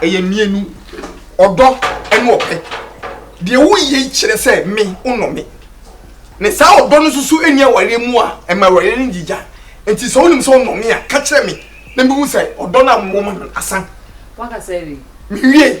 ɛyɛ mmienu ɔdɔ ne ɔpɛ deɛ woyɛ yi kyerɛ sɛ me wonɔ me ne saa ɔdɔ no nso so ɛni awareɛ mu a ɛma awareɛ no gyigya nti sɛ wonim sɛ wonɔ me a ka kyerɛ me na mehu sɛ ɔdɔ no a mowɔ ma no asan mewie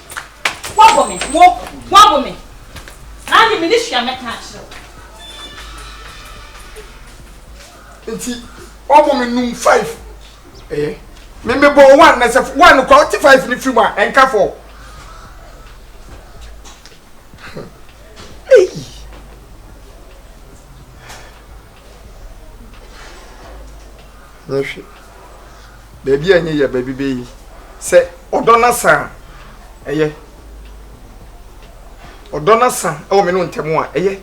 Woabɔ me, wo, woabɔ me. Saa de, mene hwee a mɛka akyerɛ wo. Nti, woabɔ me num five. Ɛyɛ. Me mebɔ one na sɛ one no kora wote five ne firi mu a ɛnka four. Ei. Na hwɛ, baabi a ɛnyɛ yɛ baabi bɛyi sɛ ɔdɔ no asa a ɛyɛ ɔdɔ no asa wɔ me no ntɛm a ɛyɛ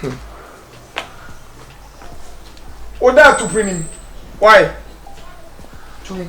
hmm. woda atopere nim wae tum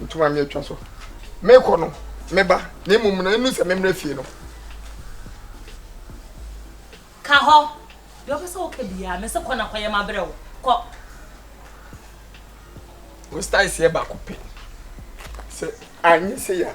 Ntoma me atwa so. Mekɔ no, meba, na mmom no ɛnu sɛ memmrɛ fie no. Ka hɔ. Deɛ ɔpɛ sɛ woka biara, mese kɔ na kɔyɛ mabrɛ wo. Kɔ. Wo style seɛ baako pɛ. Sɛ anyɛ sei a.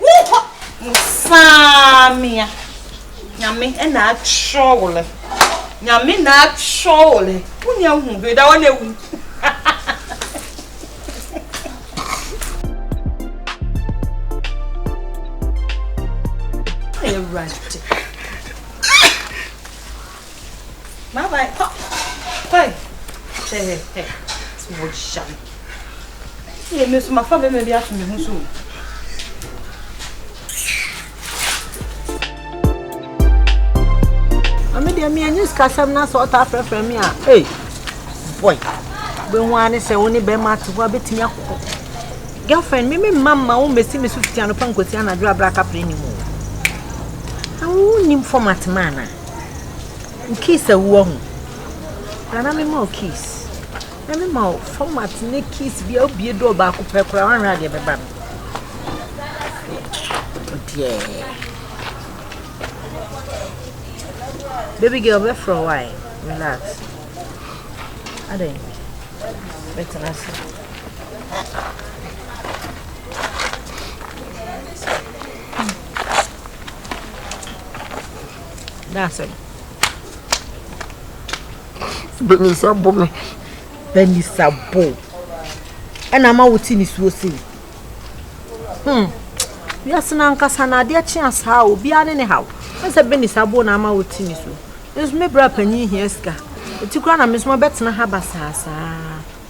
Wonkɔ! Musaamia, Nyame na atwerɛ wo lɛ. Nyame na atwerɛ wo lɛ. Wonya hu hwee da hɔ na awu. Awurade. Bye bye kɔ kɔe hwɛ hɛ hɛ ti wɔ hyia me yɛ me nso mafa bɛma bi ato me ho so Ame deɛ me anyi sikasɛm na sɛ ɔtaa frɛfrɛ me a ei boy bɛhu a ne sɛ wo ne bɛma ate hɔ a bɛtumi akɔ girlfriend me me mma mma wo mmɛsi me so fiti anɔpa nkɔsi anadwo abrɛ akapere ne mu na wonim format ma anaa Wo keys a wowɔ ho. Bra na mema wo keys. Na mema wo format ne keys bi a wobie dɔɔ baako pɛ koraa woanhwɛ adeɛ bɛba no. Deɛ. Baby girl bɛfrɛ wo ae. Relax. Adɛn? Bɛtena ase. That's it. Benisa bo me. Benisa bo. Ɛna ama wo ti nisuo sei. Hmm. Wiase na nkasa na adeɛ kye asaa obiara ne ne haw. Ɛsɛ benisa bo na ama wo ti nisuo. Nso me bra panyin hia sika. Eti kura na me nso mabɛtena ha basaasaa.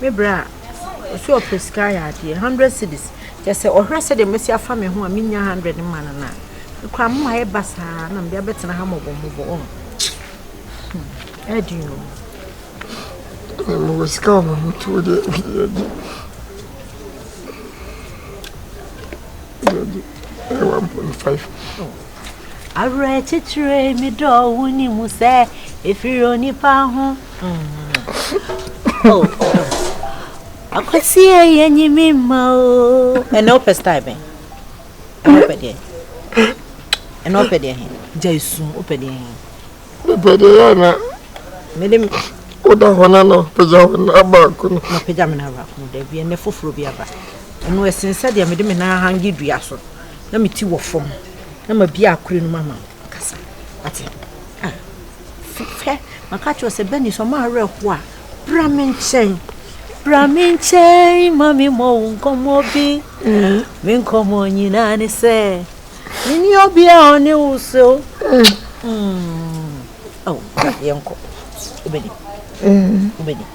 Me bra a, ɔse ɔpɛ sika ayɛ adeɛ, hundred cedis, kyɛ sɛ ɔhwɛ sɛdeɛ mɛsi afa me ho a mennya hundred mma no no a, me koraa moma ayɛ basaa na mede abɛtena ha mmɔbɔ mmɔbɔ, ɔho, hmm, ɛdeɛn o. Ɛdeɛ mewɔ sika wɔ me ho tuo deɛ, ɛdeɛ ɛdeɛ. Ɛdeɛ ɛdeɛ, ɛyɛ one point five. Awerɛkyekyerɛ yi me dɔ wo ni mu sɛ ɛfiri onipa ho. Oh, akwasie yɛ nyi me mma o. Ɛnna wopɛ style bɛn? Ɛnna wopɛ deɛ? Ɛnna wopɛ deɛ he? Gya esu wopɛ deɛ he? Mepɛ deɛ yɛ na. Mede me. Woda hɔ na na pagya hɔ na baako no. Na pagya me na baako no daabi ɛnna foforɔ bi aba. Ɛno ɛsen sɛ deɛ mede me nan ahange dua so. Na me ti wɔ fam na ma bia akure no mama kasa wate ah fifɛ maka kyerɛ sɛ bɛni sɛ ɔma awerɛ ho a bra me nkyɛn bra me nkyɛn ma me mmɔ wo nkɔmmɔ bi me nkɔmmɔ nyinaa ne sɛ meni obia ɔne wo sɛ o mm. oh, yɛnkɔ wobɛni wobɛni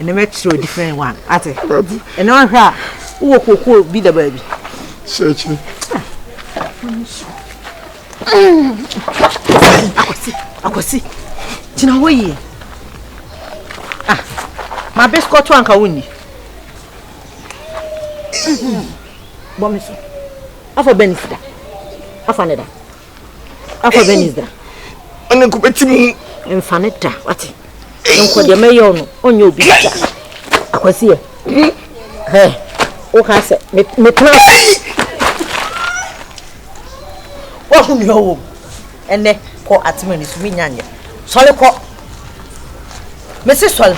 ɛna mɛkyerɛ o different one ate ɛna ɔhwɛ a wowɔ kookoo bi da baabi sɛkyerɛ akwasi akwasi gyina hɔ yie ah ma biskɔto anka wonni bɔ me so afa bɛn sida afa ne da akɔ Venice da ɔne nkɔ bɛti mu mfa ne da wate nkɔ deɛ mɛyɛ ɔno ɔnyɛ obi da akwasiɛ hɛ woka sɛ metena wahu nea ɔwɔ mu ɛnɛ kɔ atema ni so menya nyɛ sɔre kɔ mese sɔre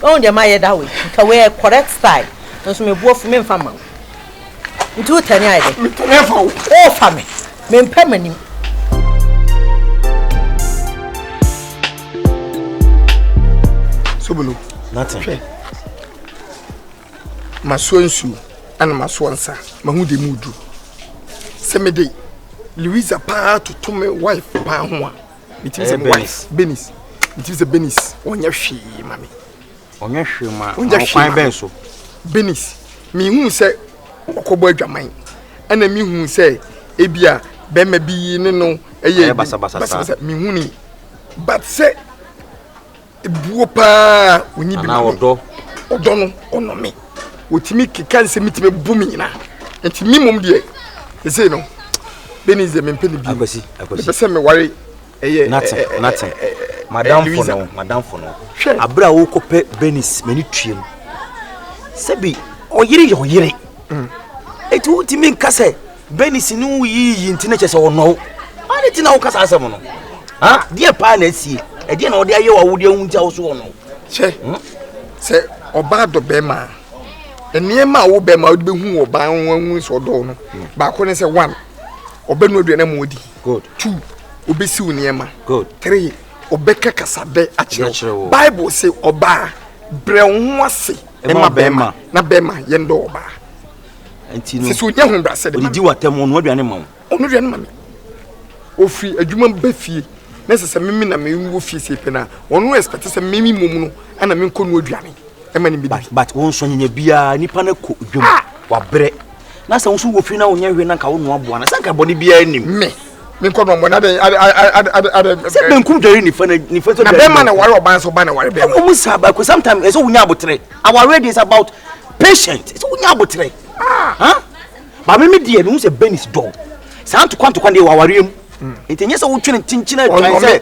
ɔhu deɛ mayɛ da wei nka wei correct style nso meboɔ fo memfa ma wo Nti wo tɛne ayɛ dɛ? Me tɛne afa wo. O fa me. Me mpɛ m'anim. Sobolo. Nata. Hwɛ. Masoa nsuo ɛna masoa nsa. Mahu de mu duru. Sɛ me de Louisa paa toto me wife paa ho a. Metumi sɛ me wife. Benis. Metumi sɛ Benis. Ɔnyɛ hwee ma me. Ɔnyɛ hwee ma Ɔnyɛ hwee kwan bɛn so? Benis, mehuu sɛ ɔkɔbɔ adwaman ɛna mehuu sɛ ebia bɛrima bi ne no ɛyɛ basabasa mehuni but sɛ ebuo paa onyi bi ma me ɔdɔ no ɔnɔ me wɔtumi keka nsɛm mi tumi bu me nyina nti me mmom deɛ ɛsei no Benis deɛ mempɛ ne bi mepɛ sɛ meware Nate, Nate, madamfo no, madamfo no. Abere a wokɔpɛ Benis, m'ani tuam. Sɛbi, ɔyere yɛ ɔyere. Mm. Eti wotumi nka sɛ Benis ne wo yiyi nti na kyɛ sɛ ɔnɔ wo. Ade ti na wokasa asɛm no. Ha, deɛ paa na asie. Ɛdeɛ na ɔde ayɛ wo awodeɛ ho nti a wo so ɔnɔ wo. Kyɛ, hmm? sɛ ɔbaa dɔ bɛrima a, nneɛma a wobɛma wode bɛhu wɔ baa ho ahu sɛ ɔdɔw no baako ne sɛ one ɔbɛnu aduane ma ɔdi Good. Two, obesiw nneɛma. Good. Three, ɔbɛka kasabɛ akyerɛ wo. Bible se ɔbaa brɛ wo ho ase ma bɛrima na bɛrima yɛn dɔ ɔbaa. Nti no. Sisi onye ho brasɛ de ma. Odidi watam ɔno aduane ma wo. Ɔno aduane ma me. Ofiri adwuma ba fie na sɛ sɛ mimi na mimi wɔ fie sɛ pɛ na ɔno expect sɛ mimi mom no ɛna menkɔ no aduane ɛma ne bi. But but wɔn nsɔnyanya biara nipa no kɔ dwom ah! wabrɛ. na sɛ woso wɔ fie na wonyɛ hwee na nka wonoa aboa no sɛ nka bɔne biara nnim me menkɔ no ɔmmɔ na adɛn adɛn sɛ benkum dware nifa na nifa sɛ na bɛrima na ware ɔbaa sɛ ɔbaa na ware bɛrima ɔmo saa baako sometimes ɛsɛ wonya abotere awareɛ deɛ is about patient ɛsɛ wonya abotere ah. maame me deɛ mehu sɛ benis dɔɔ saa ntokwa ntokwa deɛ wɔ awareɛ mu hmm. nti ɛnyɛ sɛ wotwene kyenkyena twan sɛ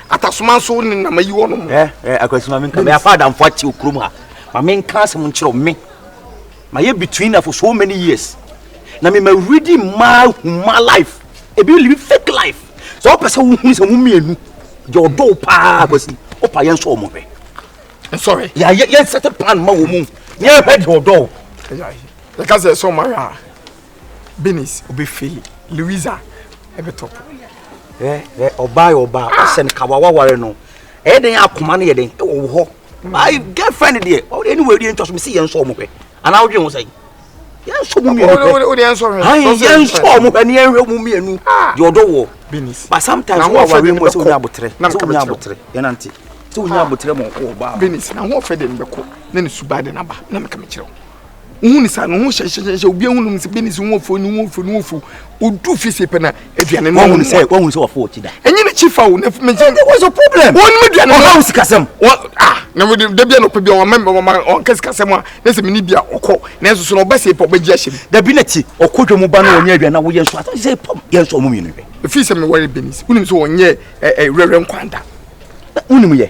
atasoma nso ne na mayi wɔnom akwasi ma menka meyɛ afa adamfo ate wɔ kurom ha ma menka asɛm nkyerɛw me mayɛ between na for so many years na mema redi mmaa huma life ebi live fake life sɛ wopɛ sɛ wohunu sɛ mo mmienu deɛ ɔdɔ wo paa akwasi wopa yɛn sɔ ɔmo hwɛ nsɔre yɛnsɛte plan ma wɔ mu ne yɛhwɛ deɛ ɔdɔ wo yɛka sɛ sɛ ɔma hwɛ a Benis obe fail Louisa ebe top. Eh eh ọba yɛ ọba ɔsɛ no kawa waware no ɛyɛ den akoma no yɛ den ɛwɔ wo hɔ. My girlfriend deɛ ɔde ɛni wɔ ɛdi ɛntwa so mi si yɛn nsɔ ɔmo hwɛ anaa ɔdwe ho sɛn yɛn nsɔ ɔmo mienu hwɛ ayi yɛn nsɔ ɔmo hwɛ ni yɛn hwɛ ɔmo mienu deɛ ɔdɔ wɔ but sometimes wọ́n wà wí mu sɛ wọ́n yà abotire sɛ wọ́n yà abotire yẹn nante sɛ wọ́n yà abotire mu ọkọ ọba. Benis na ho ɔfɛ de mbɛkɔ na ne suba de naba na mɛka mɛkyerɛ o. wohu ne saa no ho hyɛhyɛhyɛ obi ahu nom sɛ bɛni sɛ wo afuo ne wo afuo ne wo afuo ɔdu fie sei pɛ na aduane no wɔhu sɛ wɔhu sɛ wɔfo ɔkyi da ɛnyɛ ne kyi fa wo na fimi sɛ what's your problem wɔn mu aduane no ɔhaw sikasɛm wɔn ah na wode da bia na ɔpɛ bia ɔma ɔma ɔnka sikasɛm a na sɛ mene bia ɔkɔ na nso so na ɔbɛ sɛ pɔ bɛgye ahyɛ mu dabi na kyi ɔkɔ dwa mu ba na ɔnyɛ aduane na woyɛ nso asɛ sɛ pam yɛ nso ɔmo mmienu hwɛ ɛfiri sɛ mewɔre benis wonim sɛ ɔnyɛ ɛɛ rɛrɛ nkwanda wonim yɛ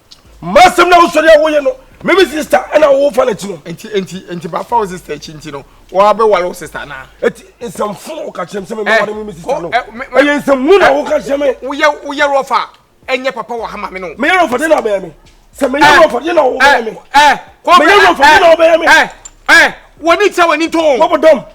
masɛm na wosɔre a woyɛ no meme sister ɛna wofa no akyi no nti nti nti bafa wo sister akyi nti no wɔabɛware wo sister anaa ɛti nsɛmfo na woka kyerɛ m sɛ memɛware eh, meme sister no eh, ɛyɛ nsɛmhu na eh, woka kyerɛ me woyɛ rɔfa ɛnyɛ papa wɔ ha ma me no meyɛ rɔfa dɛ na abɛyɛ me sɛ meyɛ rɔfa dɛ na wobɛyɛ me meyɛ rɔfa dɛ na wobɛyɛ me wɔne kyɛ w'ani too wɔbɔdɔm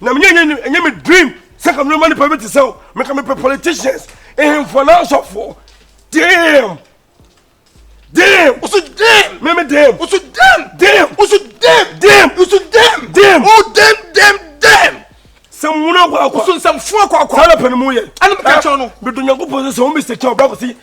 na menyɛ nyɛ nyɛ ɛnyɛ me dream sɛ ka mema nipa bi te sɛ o meka mepɛ politicians ehemfoɔ na asɔfoɔ damn damn woso damn meme damn woso damn damn woso damn damn woso damn damn oh damn damn damn sɛ mmono akɔ akɔ woso nsɛmfoɔ akɔ akɔ saa na pɛ ne mu yɛ ɛne meka kyɛw no medo nyankopɔn sɛ sɛ wo mr kyɛw bra kɔsi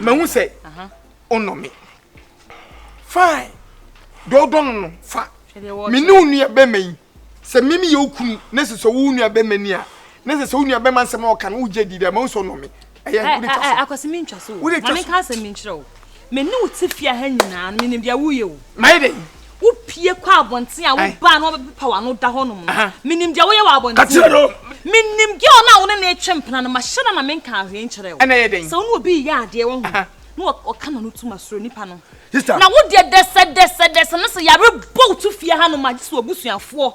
mahu sɛ wonɔ me fine deɛ wodɔ no no fa me ne wo nua bɛma yi sɛ meme yɛ wo kunu ne sɛ sɛ wo nua bɛma ni a ne sɛ sɛ wo nua bɛma nsɛm a ɔka no wogye di dɛ mahu sɛ wonɔ me ɛyɛ eh, wode twa eh, so eh, akwasi mi ntwa so o wode twa so maame nka asɛm mi nkyerɛ o me ne wo te fie ha nyinaa no menim deɛ woyɛ o mayɛ dɛ wopie kɔ abɔnten a wobaa na wɔbɛpepa w'ano da hɔ nom no menim deɛ woyɛ wɔ abɔnten menim gɛl no a wo ne ne twe mpena no mahyɛ da na menka ahwee nkyerɛ wo sɛ wo ne obi yɛ adeɛ wɔ ho na ɔka na no tum asoro nipa no na wo deɛ dɛsɛdɛsɛdɛsɛ no sɛ yare bɔ wo to fie ha nom a gye sɛ wabusuafoɔ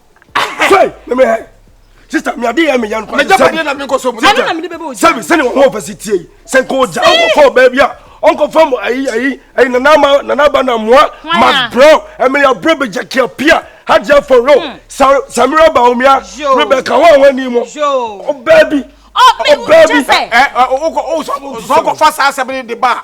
sista mi adi yɛ mi yɛn kɔ ɛdi sɛbi sɛbi sɛni wɔn wɔn fɛsi tie yi sɛ nko ja ɔkɔ kɔ bɛɛbi a ɔkɔ fɛn mu ayi ayi ayi nana ma nana ba na mua ma brɔ ɛmɛ ya brɔ bɛ jɛ kia pia hajj afɔ ro samira ba omia rɛ bɛ ka wɔn wɔn ni mu ɔbɛɛbi ɔbɛɛbi ɛ ɔkɔ ɔsɔkɔ fa saa sɛbɛn de ba.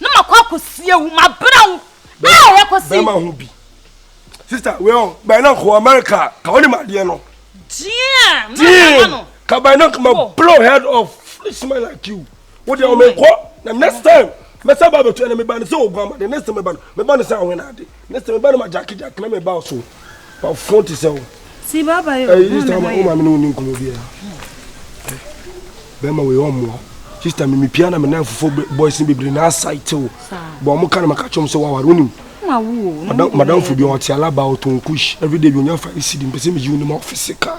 na makɔ akɔsie wo mabrɛ wo a yɛkɔsi bɛrima ho bi sista wei ɔ bɛn na nkɔ america ka wonim adeɛ no deɛ deɛ no ka bɛn na ma oh. blow head of foolish man like you wo deɛ ɔmekɔ na next time mɛsɛ ba bɛtua na meba no sɛ ɔguama de next time meba no meba no sɛ awena ade Ne sɛ me ba no ma Jackie Jackie na me ba so wa fon te sɛ wo. Si baba yo. Ɛyi sista ɔma ɔma mi ne woni nkɔmɔ bi ya. Bɛma wei ɔmoa. Sista mi mi pia na mi nan fofo boys ni bebree na asa itew. Bɔ ɔmo ka na ma ka kyɛm sɛ waware wonim. Madam fo bi ɔte alaba ɔtɔn kush everyday bi onya fa esi di mpɛsɛ mi yiw ne ma ɔfisi ka.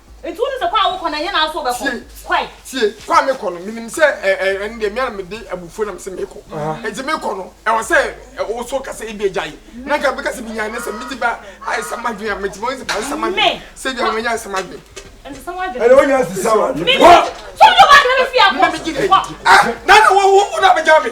Nti wonim sɛ kwan a wokɔ no ɛnyɛ na wo nso wobɛkɔ? Kɔe. Tie, kɔ a mekɔ no, menim sɛ ɛ, ɛ, ɛno deɛ me ara mede abufuo na mese mekɔ. Nti mekɔ no, ɛwɔ sɛ ɛ, wo nso ka sɛ ebia gyae. Na anka mɛka sɛ menyae na sɛ megye ba ayɛsɛm adwene a, metumi ahu sɛ ayɛsɛm adwene, sɛ ebia manya ayɛsɛm adwene. Ɛnsesa w'adwene. Ɛnna wonya nsesa w'adwene. Kɔ! Sɛ wode w'adwene bɛfiri a, kɔ. Kɔ! Ɛ, na na wo, wo, wo na bɛgya me.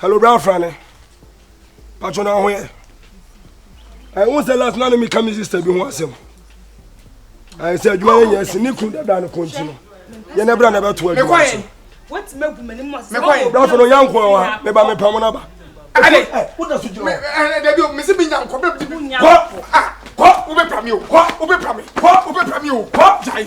hello bra afra ne patro na ho yɛ ɛho sɛ last na ne meka me sister bi ho asɛm ɛyɛ sɛ adwuma yɛ nyɛ asi ne kunu dabra no kɔnti no yɛnɛ bra na ɛbɛto adwuma so brafo no yankoa wa meba mepamo no aba mese menya nkɔ bɛbdi kɔ wobɛpra me o wobɛpra me wobɛpra me o gyae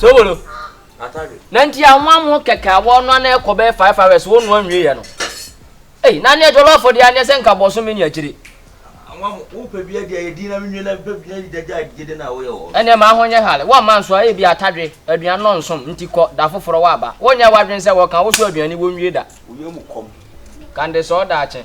sowolo na nti anwa mo kɛkɛ a wɔnoa na ɛkɔ bɛyɛ five hours wɔnoa nwie yɛ no ei na neɛ jɔlɔfo deɛ aneɛ sɛ nka bɔso me ne akyire ɛneɛ ma ho nyɛ hale wɔmma nso a ebi atadwe aduane no nsom nti kɔ da foforɔ wɔaba wonyɛ w'adwene sɛ wɔka wo so aduane wɔnwie da kande sɛ ɔda akye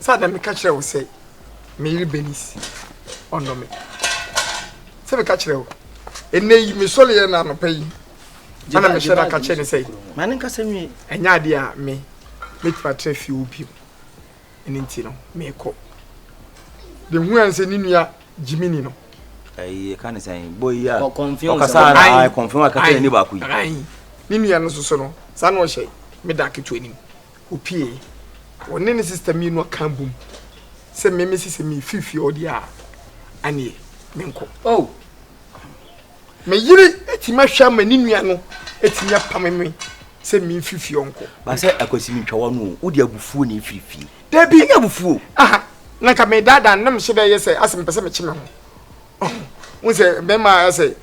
Sɛ na meka kyerɛ wo sɛ me yere Bernice ɔnnɔ me. Sɛ meka kyerɛ wo. Ɛnnɛ yi, mesɔreeɛ no anɔpa yi, ɛna mehyɛ no aka kyerɛ ne sɛ, Ma ne nkasa nwie. Ɛnyɛ adeɛ a me mɛtumi atra fie hɔ bio. Ɛno nti no, merekɔ. De hu ɛn sɛ ne nua Jiminy no. Ɛyi, ɛka ne sɛn? Boy yi a, ɔkasa ara, ae, kɔnfɛn, ɛka kyerɛ ne ni baako yi. Ae, ne nua no nso so no, saa na ɔhyɛ me da ketewa anim. Opue. Ɔne ne sista mmienu aka abom sɛ me mesi sɛ mefi fie hɔ deɛ a, ɛneɛ menkɔ. Oh! Me yere atumi ahwɛ ama ne nua no atumi apame me sɛ memfiri fie ɔnkɔ. Basɛ akwasi mentwa w'ano o, wode abufuo na ɛfiri fie. Dabi! Ɛnyɛ abufuo. Aha, na nka medaadaa no na mehyɛ dɛ yɛ sɛ asɛ mepɛ sɛ mekye me ho. n sɛ bɛma ayɛ sɛ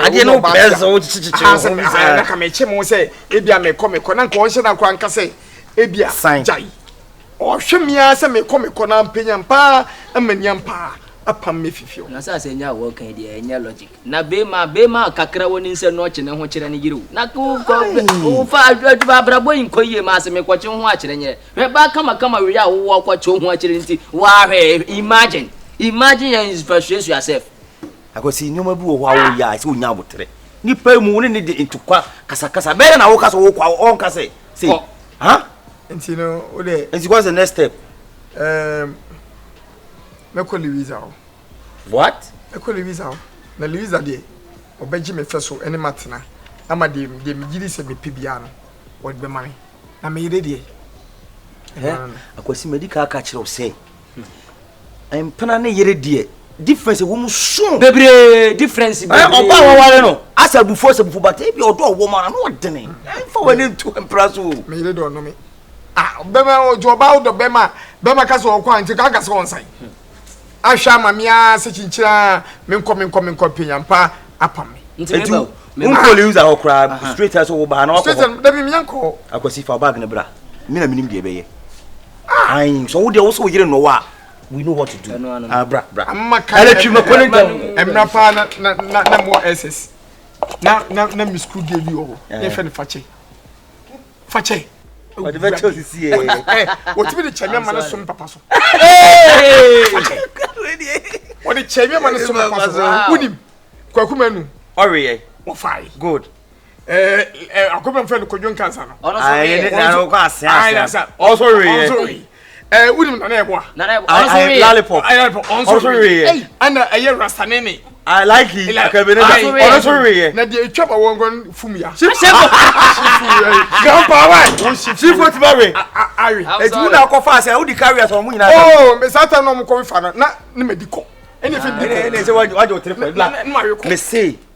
adeɛ no wopɛ sɛ wokyekyekyere na ka mekye mo sɛ ebia mekɔ mekɔ na nka ɔnhyɛ no akora nka sɛ ebia gyae ɔhwɛ me ara sɛ mekɔ mekɔ na mpanyam paa ama niam paa apam me fifi hɔ na sɛ asɛ nya wɔ kan deɛ ɛnyɛ logic na bema bema kakra wɔ ne nsɛ no ɔkye ne ho kyerɛ ne yere o na wofɔ adwuma abrabɔ yi nkɔ yie ma asɛ mekɔkye ho akyerɛ nyɛ Hwɛ baa kamakama wia a wowɔ kɔ kyɛw ho akyere nti waa hwɛ imagine imagine yɛ nsuasuasua sɛf. Akwasi nneɛma bi wɔ hɔ a wo yɛ a ɛsɛ onya aboterɛ nipa mu wo ne ne de ntukwa kasakasa ɛbɛyɛ dɛ na wo kasa wo kɔ a ɔnka sɛ sɛ ha nti no wo de nti what's the next step um, mɛkɔ Louisa hɔ what mɛkɔ Louisa hɔ na Louisa deɛ ɔbɛgye me fɛ so ɛne matena ama deɛ deɛ megye di sɛ mepɛ biara no wɔde bɛma me. Na me yere deɛ. Hɛ akwasi madi ka aka kyerɛ wo sɛ mpena ne yere deɛ difference ɛwɔ mu so bebree difference eh, bebree ɔba a wɔware no asɛ abufuo sɛ bufuo bata ebi ɔdɔ ɔwɔ mu ara na ɔdene ɛmfa wɔ ne ntu mpena so o me yere dɔ ɔnome ah bɛma ɔdɔ ɔba ɔdɔ bɛma bɛma ka sɛ ɔkɔ a nti ka ka sɛ ɔnsan ahwɛ ama me ara sɛ kyinkyini ara menkɔ menkɔ menkɔ mpenya mpa apam me. nti meba o meba nkɔ lewis ahɔ koraa straight ɛ sɛ wo baa na wakɔ hɔ straight ɛ dabi menya nkɔ akwasi fa bag ne bra me na menim deɛ ɛbɛyɛ ayi sɛ wo deɛ wo sɛ wo yere nnɔwɔ a we know what to do ah bra bra ama ka ɛlɛtwi ma kɔne ntɛm ɛmra paa na na na na mo ss na na na me school deɛ bi wɔ hɔ ne fɛ ne fakyɛ fa kyɛ ɔde bɛ kyɛ osisi yɛ wɔtumi de kyɛ mi ama ne som papa so wɔde kyɛ mi ama ne som papa so wunim kwaku mɛnu ɔreyɛ wɔfa yi good akɔbɛn fɛn no kodwo nkansa no ɔno so reyɛ ɔno so reyɛ ɔso reyɛ ɛɛ eh, wonim nana ɛboa lollipop ɔno so weeyɛ ɛna ɛyɛ rastanene I like it. Akabene na ɔno so weeyɛ. Na deɛ etwa ma wɔn kɔn fum ya. Sifo. Grandpa wa. Sifo ti ba we. Awi. Etu mu na akɔ fa ase a wodi carry as ɔmo nyinaa. Oo mɛ saa ta na ɔmo kɔ fa no na ne ma di kɔ. Ɛna efe di kɔ. Ɛna ɛsɛ wajɛ wajɛ o tiri kɔ. Mɛ se.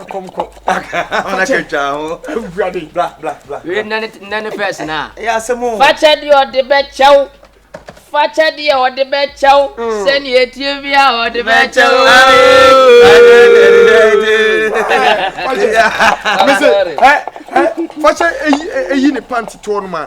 ɛkɔm kɔ nnɛ ne fɛs no a fakyɛ deɛ ɔde bɛkyɛw fakyɛ deɛ ɔde bɛkyɛw hmm. sɛnea ɛtie bi a ɔde bɛkyɛw fakyɛ ɛyi ne pant toɔ no ma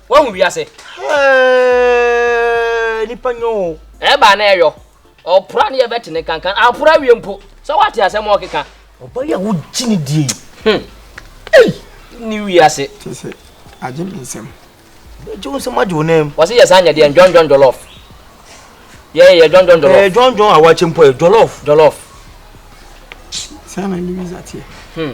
Woahu wiase. Hɛɛɛɛɛ nipa nyɛ o. Ɛba na ɛyɔ. Ɔpora ne yɛbɛte ne kankan. Apora wie mpo. Sɛ woate asɛm a ɔkeka. Ɔba yi a wogye ne die yi. Hmm. Ei! Ne wiase. Kyɛ sɛ agye me nsɛm. Bɛgye wo nsɛm agye wo nam. Wɔse yɛ saa nyɛ deɛ ndwɔndwɔn jɔlɔf. Yɛ yɛ dwɔndwɔn jɔlɔf. Ɛɛ dwɔndwɔn a wɔakyɛ mpo yɛ jɔlɔf. Jɔlɔf. Saa na Louisa teɛ. Hmm.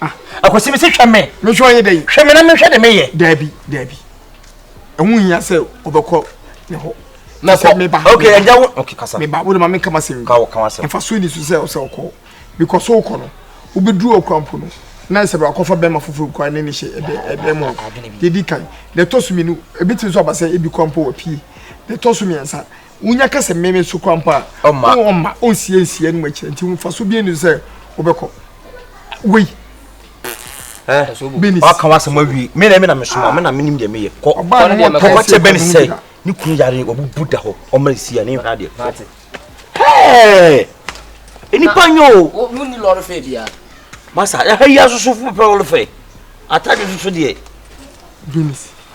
ah. akwasi mi si hwɛ mi. mi nso ɔyɛ dɛ yi. hwɛ mi na mi hwɛ de mi yɛ. daabi daabi ɛho hia sɛ ɔbɛkɔ ne hɔ. na kɔ meba ok ɛgya wo ok kasa. meba wo de ma mi nkama sɛm. kawo kawo asɛm. nfa so ni so sɛ ɔsɛ ɔkɔ because so kɔ no wobɛduru ɔkura mpo no na sɛ bɛakɔfa bɛrima foforɔ kura ne ne hyɛ ɛdɛ ɛdɛ mu yɛdi kan na ɛtɔ so mmienu ebi ti nso aba sɛ ebi kura mpo wɔ pie na ɛtɔ so mmiɛnsa Wonya ka sɛ mmɛmɛ so kora mpo a, ɔma ɔma ɔnsie nsie anom akyerɛ nti mfaso bi ani sɛ wobɛkɔ wei bɛnis ɔka wasɛm awie me na me na mesoma me na menim deɛ meyɛ kɔ kɔkɔ kyɛ bɛne sɛ ne kunu yare wabubu da hɔ ɔma ɛsi a ne nhwɛ adeɛ hɛɛ nnipa nyɛ o wonni lɔre fɛ biara masa ɛha yi asosofo pɛ lɔre fɛ atade soso deɛ bɛnis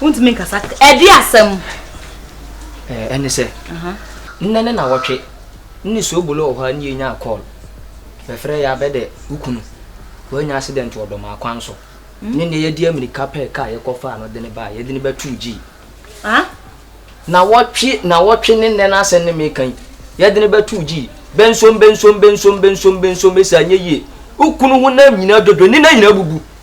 wontumi nkasa ɛde asɛm ɛne sɛ nnɛ ne nawɔtwe ne suobolo wɔ hɔ a ne yɛnyaa call bɛfrɛ yɛ abɛdɛ wokunu woanya accident wɔ dɔm akwan so hmm? ne nnɛ yɛde amirika pɛɛ ka yɛkɔfaa no de ne baa yɛde ne bɛtoo gyii na wɔtwe na wɔtwe ne nnɛ no asɛm ne meka yi yɛde ne bɛtoo gyii bɛnsom bɛnsom bɛnsom bɛnsom bɛnsom ɛsi anyɛ yie wokunu ho nam nyinaa dwodwo ne na nyinaa bubu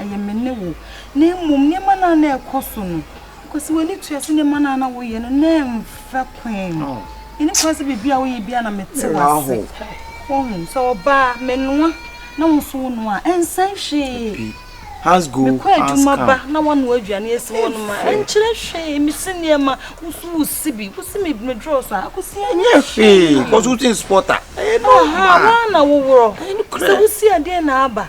ɛyɛ me ne wo, na mmom nneɛma no a na ɛrekɔ so no, because w'ani tua sɛ nneɛma no a na woyɛ no na ɛmfa kwan mu. Ɛni kwan sɛ biribi a woyɛ biara na mete w'ase. Wohu, sɛ ɔbaa menoa na wo nso wonoa a, ɛnsɛ hwee. Mekɔ adwuma ba na woanoa aduane asi hɔnom a, ɛnkyerɛ hwee. Mesi nneɛma, wo nso wosi bi. Wosi me medrɔs a, akosi ɛnyɛ hwee. Because wotin spɔta. Aha, woana woworɔ. Sɛ wosi adeɛ na aba.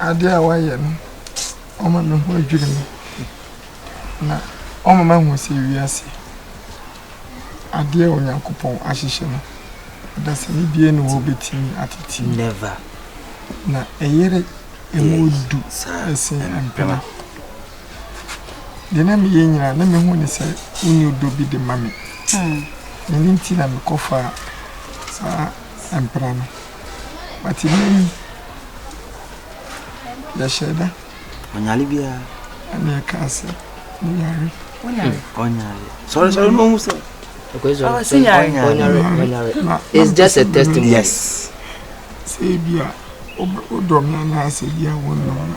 adeɛ a wayɛ no ɔma me ho adwiri me na ɔma ma hu sɛ wiase adeɛ a onyankopɔn ahyehyɛ no dasani bie ne wɔ bɛtumi atete na ɛyere ɛmu du ɛsen mpena Deɛ na meyɛ nyinaa na mehu ne sɛ wonni ɔdɔ bi de ma me. Hmm. Ɛno nti na mekɔfaa saa mpena no. But nnɛ yi, yɛhyɛ da. Ɔnyare biara. Ɛna ɛkaa sɛ, meyare. Ɔnyare. Ɔnyare. Sɔre sɔre na ɔhu sɛ. Okay, so, oh, so ɔnyare. It's just a testimony. Yes. Sɛ ebi a, wodɔ me anaasɛ bi a wonnɔ me.